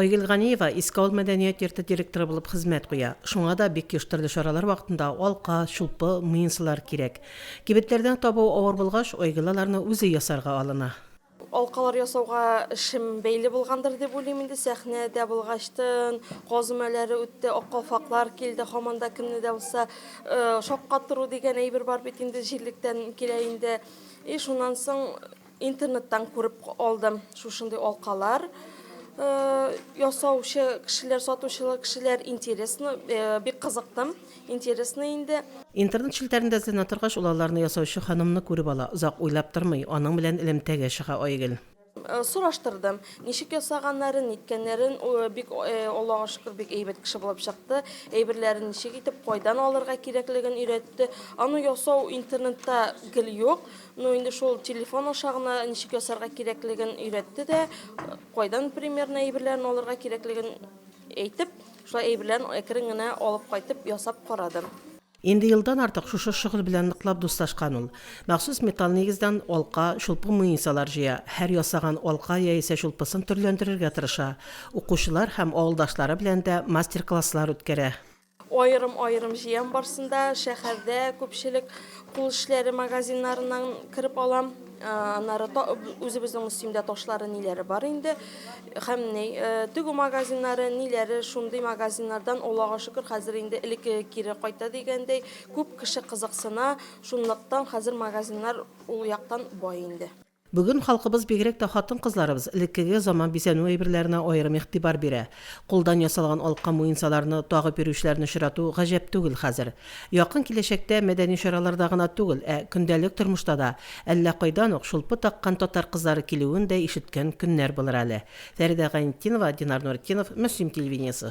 Айгөл Ганиева Искаул мәдәният йорты директоры булып хезмәт куя. Шуңа да бик еш төрле чаралар вакытында алка, чулпы, муенсалар кирәк. Кибетләрдән табу авыр булгач, Айгөл аларны үзе ясарга алына. Алкалар ясауга эшем бәйле булгандыр дип уйлыйм инде. Сәхнәдә булгачтын, газмәләре үтте, ак калфаклар килде, һаман да кемне дә булса шаккатыру дигән әйбер бар бит инде, җирлектән килә инде. И шуннан соң. Интернеттан күреп алдым шушындый алкалар ясаучы кешеләр, сатучылар кешеләр интересно, бик кызыктым, интересно инде. Интернет челтәрендә эзләнә торгач, ул аларны ясаучы ханымны күреп ала, озак уйлап тормый, аның белән элемтәгә чыга Айгөл. Сораштырдым, ничек ясаганнарын, ниткәннәрен, бик Аллага шөкер, бик әйбәт кеше булып чыкты, әйберләрен ничек итеп, кайдан алырга кирәклеген өйрәтте. Аны ясау интернетта гел юк. Ну инде шул телефон аша гына ничек ясарга кирәклеген өйрәтте дә, кайдан примерно әйберләрен алырга кирәклеген әйтеп, шулай әйберләрен әкрен генә алып кайтып ясап карадым. Инде елдан артык шушы шөгыль белән ныклап дуслашкан ул. Махсус металл нигездән алка, чулпы муенсалар җыя, һәр ясаган алка яисә чулпысын төрләндерергә тырыша, укучылар һәм авылдашлары белән дә мастер-класслар үткәрә. Аерым-аерым җыям барсында шәһәрдә күпчелек кул эшләре магазиннарыннан кереп алам. Аннары үзебезнең Мөслимдә ташлары ниләре бар инде. Һәм ни тегү магазиннары, ниләре шундый магазиннардан Аллага шөкер хәзер инде элеккеге кире кайта дигәндәй күп кеше кызыксына, шунлыктан хәзер магазиннар ул яктан бай инде. Бүген халкыбыз, бигрәк тә хатын-кызларыбыз, элеккеге заман бизәнү әйберләренә аерым игътибар бирә. Кулдан ясалган алка муенсаларны тагып йөрүчеләрне очрату гаҗәп түгел хәзер. Якын киләчәктә мәдәни чараларда гына түгел, ә көндәлек тормышта да әллә кайдан ук чулпы таккан татар кызлары килүен дә ишеткән көннәр булыр әле. Фәридә Гайнетдинова, Динар Нуретдинов, Мөслим телевидениесе.